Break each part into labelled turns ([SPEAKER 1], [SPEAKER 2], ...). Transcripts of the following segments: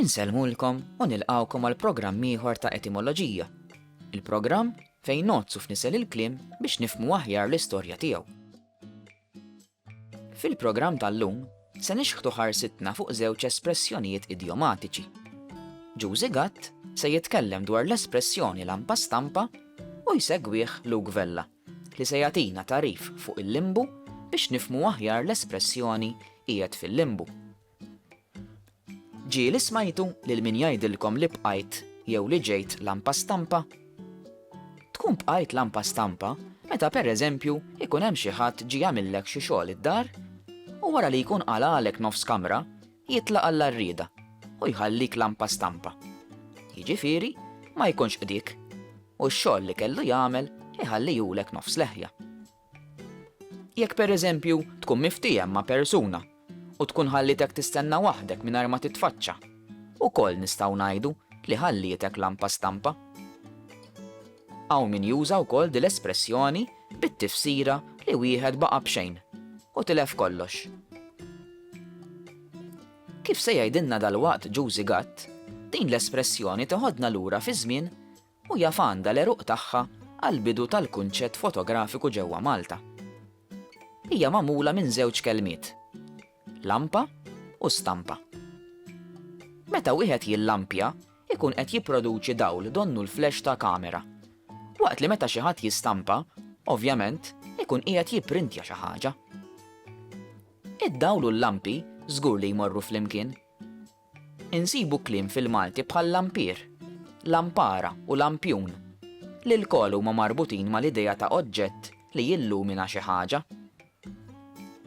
[SPEAKER 1] Insellmulkom
[SPEAKER 2] u nilqgħukom għal programm ieħor ta' Etimoloġija, il-programm fejn ngħoddsu f'nisel il-kliem biex nifhmu aħjar l-istorja tiegħu. Fil-programm tal-lum se nixħtu ħarsitna fuq żewġ espressjonijiet idjomatiċi. Ġużi Gatt se jitkellem dwar l-espressjoni lampa stampa u jsegwih Luke Vella, li se jagħtina tarif fuq il-limbu biex nifmu aħjar l-espressjoni qiegħed fil-limbu. Ġieli smajtu lil min jgħidilkom li bqajt jew li ġejt lampa stampa? Tkun bqajt lampa stampa meta per eżempju jkun hemm xi ħadd ġie għamillek xi xogħol id-dar u wara li jkun qalagħlek nofs kamra jitlaq għall-għarrieda u jħallik lampa stampa. Jiġifieri ma jkunx qdik u x-xogħol li kellu jagħmel iħallihulek nofs leħja. Jekk pereżempju tkun miftiehem ma' persuna u tkun ħallietek tistenna waħdek mingħajr ma titfaċċa, ukoll nistgħu ngħidu li ħallietek lampa stampa. Hawn min juża wkoll dil-espressjoni bit-tifsira li wieħed baqa' b'xejn u tilef kollox. Kif se jgħidilna dalwaqt Jużi Gatt, din l-espressjoni teħodna lura fiż-żmien u jaf għandha l-għeruq tagħha għall-bidu tal-kunċett fotografiku ġewwa Malta. Hija magħmula minn żewġ kelmiet, lampa u stampa. Meta wieħed jillampja, ikun qed jipproduċi dawl donnu l-flash ta' kamera. Waqt li meta xi ħadd jistampa, ovvjament, ikun qiegħed jipprintja xi ħaġa. Id-dawl u l-lampi żgur li jmorru flimkien. Insibu kliem fil-Malti bħal lampier, lampara u lampjun, li lkoll huma marbutin mal-idea ta' oġġett li jillumina xi ħaġa.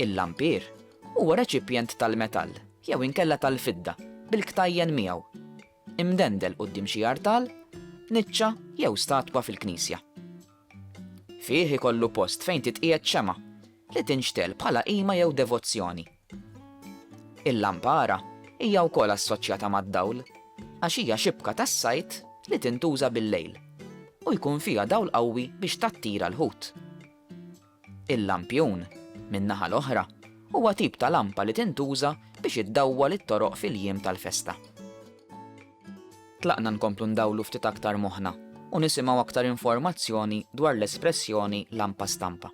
[SPEAKER 2] Il-lampier huwa reċipjent tal-metall jew inkella tal-fidda bil-ktajjen miegħu, imdendel quddiem xi artal, niċċa jew statwa fil-knisja. Fih ikollu post fejn titqiegħed xemgħa li tinxtegħel bħala qima jew devozzjoni. Il-lampara hija wkoll assoċjata mad-dawl għax hija xibka tas-sajd li tintuża bil-lejl u jkun fiha dawl qawwi biex tattira l-ħut. Il-lampjun, min-naħa l-oħra, huwa tip ta' lampa li tintuża biex iddawwal it-toroq fil-jiem tal-festa. Tlaqna nkomplu ndawlu ftit aktar moħħna u nisimgħu aktar informazzjoni dwar l-espressjoni lampa stampa.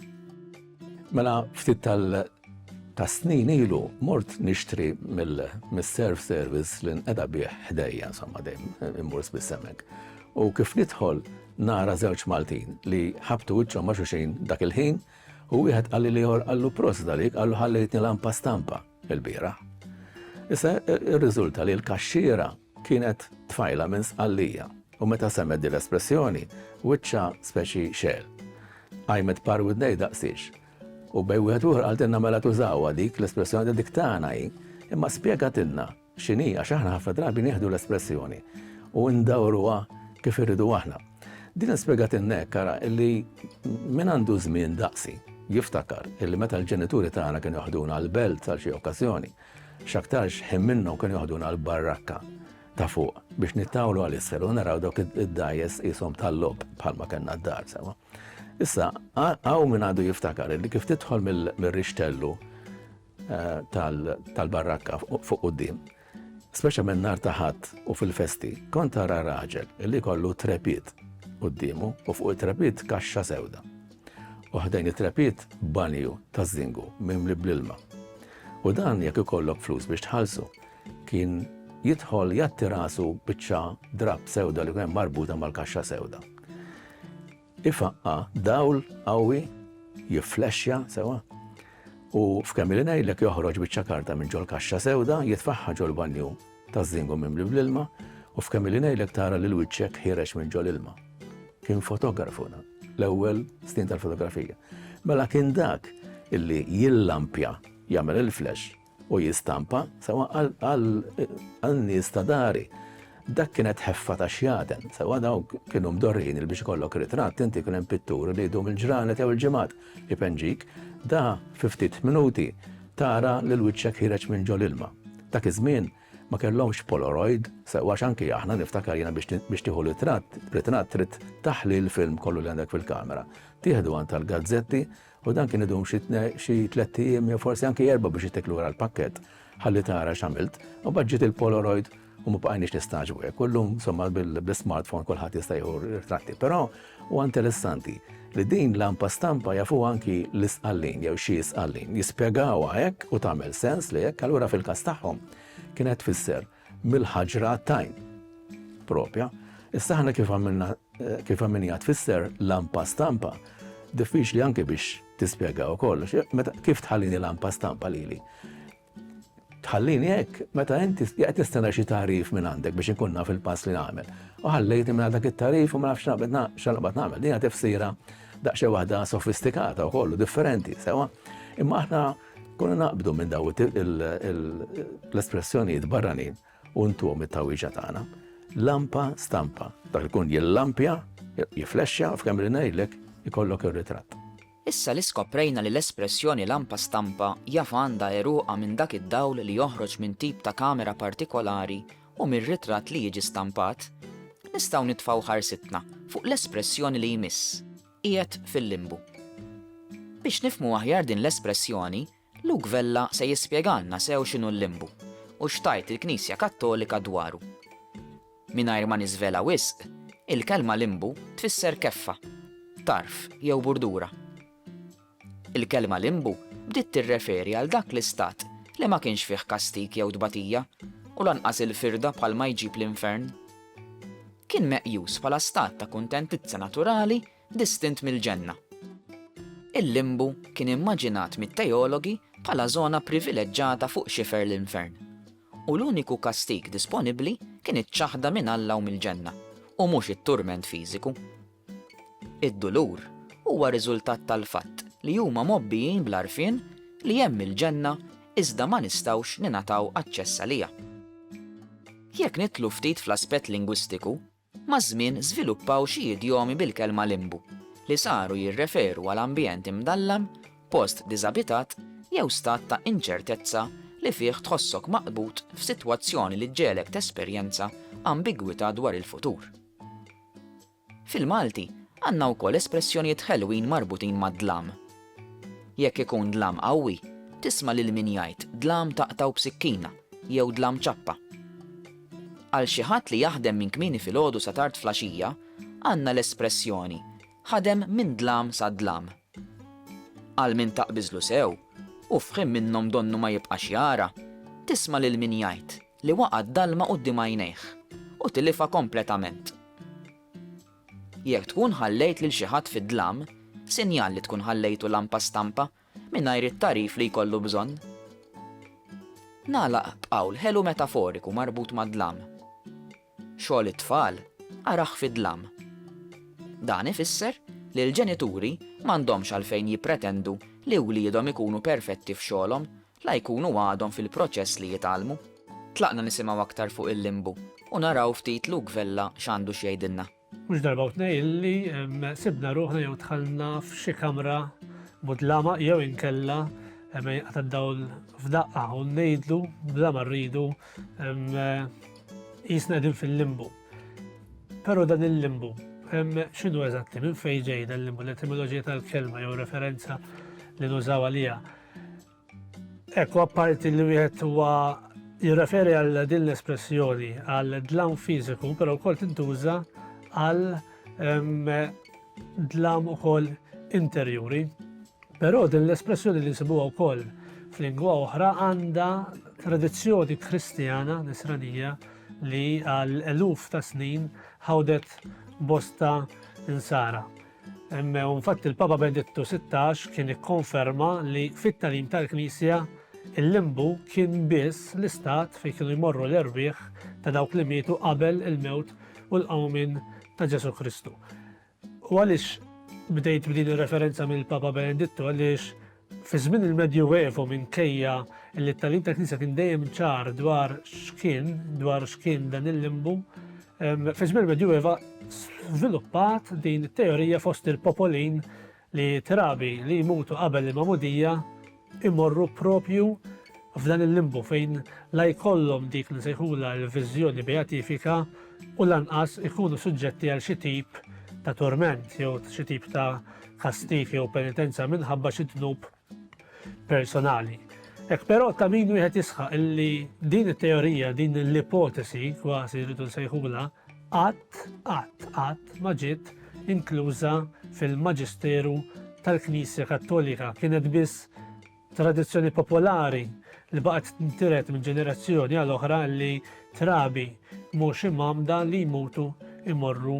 [SPEAKER 2] Mela
[SPEAKER 3] ftit Ta' snin ilu mort nixtri mill-self service li nqeda bih ħdejja, insomma dejjem immur spiss hemmhekk. U kif nidħol nara żewġ Maltin li ħabtu wiċċhom ma' xuxin dak il-ħin u wieħed qalli li ieħor qallu prost dalik qallu ħallejtni lampa stampa il-bira. Issa irriżulta li l-kaxxiera kienet tfajla minn sqallija u meta semmet din l-espressjoni wiċċa speċi xel. Għajmet par widnej daqsiex U b'għajn wieħed ieħor qaltilna mela tużawha dik l-espressjoni li dik tagħna hi, imma spjegatilna x'inhi għax aħna ħafna drabi nieħdu l-espressjoni u ndawruha kif irridu aħna. Din spjegatilna hekk ara li min għandu żmien daqsi jiftakar illi meta l-ġenituri tagħna kienu joħduna l-belt għal xi okkażjoni, x'aktarx ħin minnhom kienu joħduna l-barrakka. ta' fuq biex nittawlu għal isfel u naraw dawk id-dajes jisom tal-lob bħalma kellna d-dar sewa. Issa, għaw minn għadu jiftakar li kif titħol mill-rixtellu eh, tal-barrakka fuq u d-dim, speċa minn nar taħat u fil-festi, kont tara raġel li kollu trepit u d-dimu u fuq it-trepit kaxxa sewda. Uħdejn it-trepit banju ta' zingu minn li bl-ilma. U dan jekk ikollok flus biex tħalsu, Kien jidħol jgħatti rasu biċċa drapp sewda li kien marbuta mal-kaxxa sewda. Ifaqqa dawl qawwi jifflexxa sewa u f'kemm li ngħidlek joħroġ biċċa karta minn ġol kaxxa sewda jitfaħħa ġol banju taż-żingu mimli bl-ilma u f'kemm li ngħidlek tara lil wiċċek ħirex minn ġol ilma. Kien fotografu dan, l-ewwel snin tal-fotografija. Mela kien dak illi jillampja jagħmel il-flash u jistampa sewwa għan-nies ta' dari. Dak kienet ħeffa ta' xjaten, sewwa dawk kienu mdorrijin li biex ikollok ritratt inti kien hemm pitturi li jdum il-ġranet jew il-ġimgħat ipenġik, da fi ftit minuti tara lil wiċċek ħiereġ minn ġol-ilma. Dak iż-żmien ma kellhomx polaroid, sewwa għax anki aħna niftakar jiena biex tieħu ritratt trid taħli l-film kollu li għandek fil-kamera. Tieħdu għand tal-gazzetti U dan kien idum xi tlett ijiem jew forsi anki erba' biex jittek lura l-pakkett ħalli tara x'għamilt. U mbagħad ġiet il-Polaroid u ma bqajniex nistagħġbu hekk. U llum somma bil-smartphone kulħadd jista' jieħu ritratti. Però huwa interessanti li din lampa stampa jafu anki l-isqallin jew xi isqallin. Jispjegawha hekk u tagħmel sens li hekk allura fil-każ tagħhom kienet tfisser mill-ħaġra għat-tajn. Propja, issa aħna kif għamilna kif għamilna tfisser lampa stampa, diffiċli anke biex tispjega u kollox, meta kif tħallini lampa stampa lili. Tħallini hekk, meta inti qed tistenna xi tarif minn għandek biex inkun naf il-pass li nagħmel. U ħallejt minn dak it-tarif u ma nafx x'naqbad nagħmel. Dinha tifsira daqsxejn waħda sofistikata u kollu differenti, sewa. Imma aħna Konna naqbdu minn daw l-espressjonijiet barranin u ntuhom it-tawwieġa tagħna. Lampa stampa, dak li jkun jillampja, jiflexxa f'kemm li ngħidlek ikollok ir-ritratt. Issa li
[SPEAKER 2] skoprejna li l-espressjoni lampa stampa jaf għandha għeruqha minn dak id-dawl li joħroġ minn tip ta' kamera partikolari u mir-ritratt li jiġi stampat, nistgħu nitfgħu ħarsitna fuq l-espressjoni li jmiss. qiegħed fil-limbu. Biex nifhmu aħjar din l-espressjoni, Luke Vella se jispjegalna sew x'inhu l-limbu u x'tgħid il-Knisja Kattolika dwaru. Mingħajr ma niżvela wisq, il-kelma limbu tfisser keffa, tarf jew burdura. Il-kelma limbu bdiet tirreferi għal dak l-istat li ma kienx fih kastig jew tbatija u lanqas il-firda bħalma jġib l-infern. Kien meqjus bħala stat ta' kuntentizza naturali distint mill-ġenna. Il-limbu kien immaġinat mit-teologi bħala żona privileġġata fuq xifer l-infern, u l-uniku kastig disponibbli kien iċ-ċaħda minn Alla u mill-ġenna, u mhux it-turment fiżiku. Id-dulur huwa riżultat tal-fatt li huma mgħobbijin bl-għarfien li hemm il-ġenna iżda ma nistgħux ningħataw aċċess għaliha. Jekk nidħlu ftit fl-aspett lingwistiku, maż-żmien żviluppaw xi idjomi bil-kelma limbu li saru jirreferu għal ambjent imdallam, post diżabitat jew stat ta' inċertezza li fih tħossok maqbud f'sitwazzjoni li ġġegħlek tesperjenza ambigwità dwar il-futur. Fil-Malti, għandna wkoll espressjonijiet ħelwin marbutin mad-dlam. Jekk ikun dlam qawwi, tisma' lil min jgħid dlam taqtgħu b'sikkina jew dlam ċappa. Għal xi ħadd li jaħdem minn kmieni filgħodu sa tard fl-għaxija, għandna l-espressjoni ħadem minn dlam sa dlam. Għal min taqbiżlu sew, u f'ħin minnhom donnu ma jibqax jara, tisma' lil min jgħid li waqa' d-dalma quddiem għajnejh u tilifha kompletament. Jekk tkun ħallejt lil xi ħadd fid-dlam, sinjal li tkun ħallejtu lampa stampa mingħajr it-tagħrif li jkollu bżonn. Nagħlaq b'qawl ħelu metaforiku marbut mad-dlam. Xogħol it-tfal arah fid-dlam. Dan ifisser li l-ġenituri m'għandhomx għalfejn jippretendu li wliedhom ikunu perfetti f'xogħolhom la jkunu għadhom fil-proċess li jitgħallmu. Tlaqna nisimgħu aktar fuq il-limbu u naraw ftit Luke Vella x'għandu x'jgħidilna. Mhux darba u tnej
[SPEAKER 4] illi sibna ruħna jew dħalna f'xi kamra mudlama jew inkella ma jinqata' dawl f'daqqa u ngħidlu bla ma rridu jisna qegħdin fil-limbu. Però dan il-limbu x'inhu eżatti minn fejn ġej dan limbu l-etimoloġija tal-kelma jew referenza li nużaw għaliha. Hekk, apparti li wieħed huwa jirreferi għal din l-espressjoni għal dlam fiżiku, però wkoll tintuża għal dlam ukoll interjuri. Però din l-espressjoni li nsibuha wkoll f'lingwa oħra għandha tradizzjoni kristjana nisranija li għal eluf ta' snin ħawdet bosta insara. Infatti l-Papa Benedittu 16 kien ikkonferma li fit-tagħlim tal-Knisja il-limbu kien biss l-istat fejn kienu jmorru l-erwieħ ta' dawk li mietu qabel il-mewt u l-qawmin ta' Ġesu Kristu. U għaliex bdejt b'din ir-referenza mill-Papa Benedittu għaliex Fi żmien il-Medjuevu minkejja li t-tagħlim tal-Knisja kien dejjem ċar dwar x'kien, dwar x'kien dan il-limbu, fi żmien il-Medjueva żviluppat din it-teorija fost il-popolin li trabi li jmutu qabel il-magħmudija imorru propju f'dan il-limbu fejn la jkollhom dik li sejħula l-viżjoni beatifika u lanqas ikunu suġġetti għal xi tip ta' torment jew xi tip ta' kastig jew penitenza minħabba xi dnub personali. Hekk però ta' min wieħed jisħaq illi din it-teorija, din l-ipotesi kważi rridu nsejħula, qatt qatt qatt ma ġiet inkluża fil-maġisteru tal-Knisja Kattolika kienet biss Tradizzjoni popolari li baqgħet tintiret minn ġenerazzjoni għal oħra li trabi mhux imgħammda li jmutu jmorru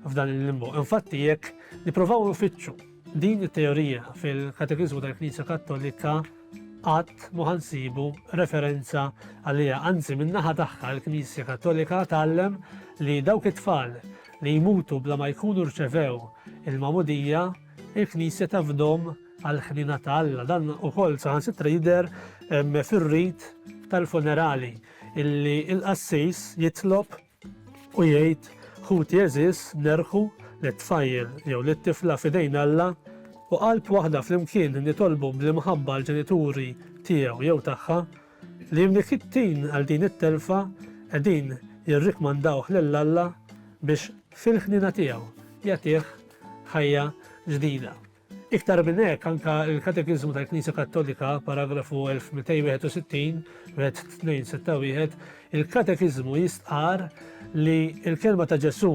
[SPEAKER 4] f'dan il-limbu. Infatti jekk nippruvaw infittxu din it-teorija fil-Katekiżmu tal-Knisja Kattolika qatt ma ħansibu referenza għaliha. Anzi min-naħa tagħha l-Knisja Kattolika tgħallem li dawk it-tfal li jmutu bla ma jkunu rċevew il-magħmudija, il-Knisja tafdhom għall-ħniena ta' Alla. Dan ukoll saħansitra jidher fir-rit tal-funerali illi l-qassis jitlob u jgħid ħuti għeżież nerħu lit-tfajjel jew lit-tifla f'idejn Alla u qalb waħda flimkien nitolbu bl-imħabba għall-ġenituri tiegħu jew tagħha li mnikkittin għal din it-telfa qegħdin jirrikmandawh lil Alla biex fil-ħniena tiegħu jagħtih ħajja ġdida. Iktar minn hekk, anke l-Katekiżmu tal-Knisja Kattolika, paragrafu 1261, Red. 2, 6, 1, il-Katekiżmu jistqarr li l-kelma ta' Ġesù,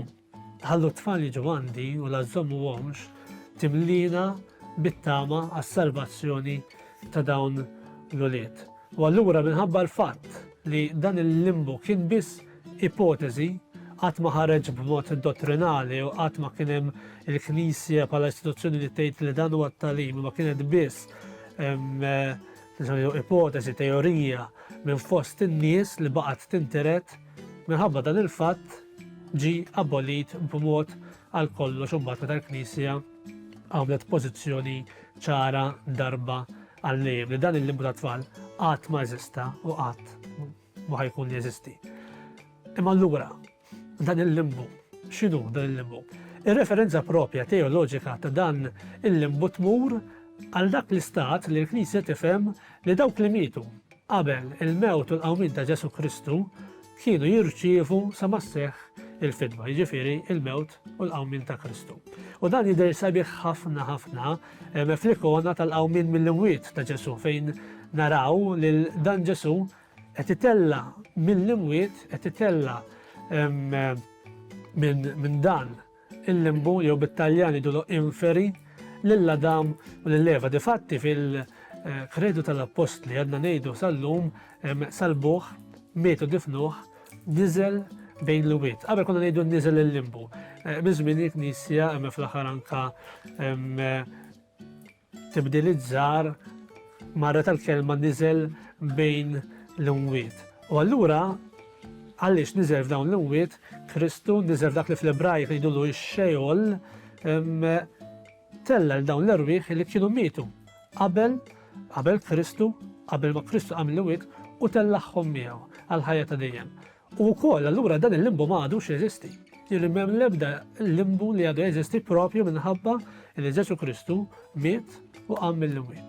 [SPEAKER 4] ħallu t-tfal jiġu għandi u la żommuhomx, timlina bit-tama għas-salvazzjoni ta' dawn l-ulied. U allura minħabba l-fatt li dan il-limbu kien biss ipoteżi, qatt ma ħareġ b'mod dottrinali u qatt ma kien hemm il-Knisja bħala istituzzjoni li tgħid li dan huwa t-talim, ma kienet biss ipoteżi, teorija minn fost in-nies li baqgħet tinteret minħabba dan il-fatt ġi abolit b'mod għal kollox imbagħad meta l-Knisja għamlet pożizzjoni ċara darba għal-lejem li dan il-limbu ta' tfal qatt ma eżista u qatt ma ħa jkun jeżisti. Imma allura dan il-limbu, x'inhu dan il-limbu? Ir-referenza propja teoloġika ta' dan il-limbu tmur għal dak l-istat li l-Knisja tifhem li dawk li mietu qabel il-mewt u l-qawmin ta' Ġesu Kristu kienu jirċievu sa masseħ il-fidwa, jiġifieri il-mewt u l-qawmin ta' Kristu. U dan jidher sabiħ ħafna ħafna Hemm fl-ikona tal-qawmien mill-imwiet ta' Ġesù fejn naraw lil dan Ġesù qed itella' mill-imwiet, qed itella' minn dan il-limbu jew bit-Taljan jgħidulu inferi lil Adam u lil Eva. Difatti fil-Kredu tal-Appostli għadna ngħidu sal-lum, Salbuh, mietu difnuh, Niżel bejn l-wied. Qabel konna ngħidu niżel il-limbu. Eh, minn żmien il-Knisja hemm fl-aħħar anka eh, tibdil iż-żar marra tal-kelma niżel bejn l-imwiet. U allura għaliex niżel f'dawn l-imwiet, Kristu niżel dak li fl-Ebrajk ngħidulu x-xejol Tella' lil dawn l-erwieħ li kienu mietu qabel qabel Kristu, qabel ma Kristu qam mill-imwiet, u tellagħhom miegħu għall-ħajja ta' dejjem. U wkoll allura dan il-limbu ma għadux jeżisti. Jiġifieri m'hemm l-ebda limbu li għadu jeżisti proprju minħabba li Ġesù Kristu miet u qam mill-imwiet.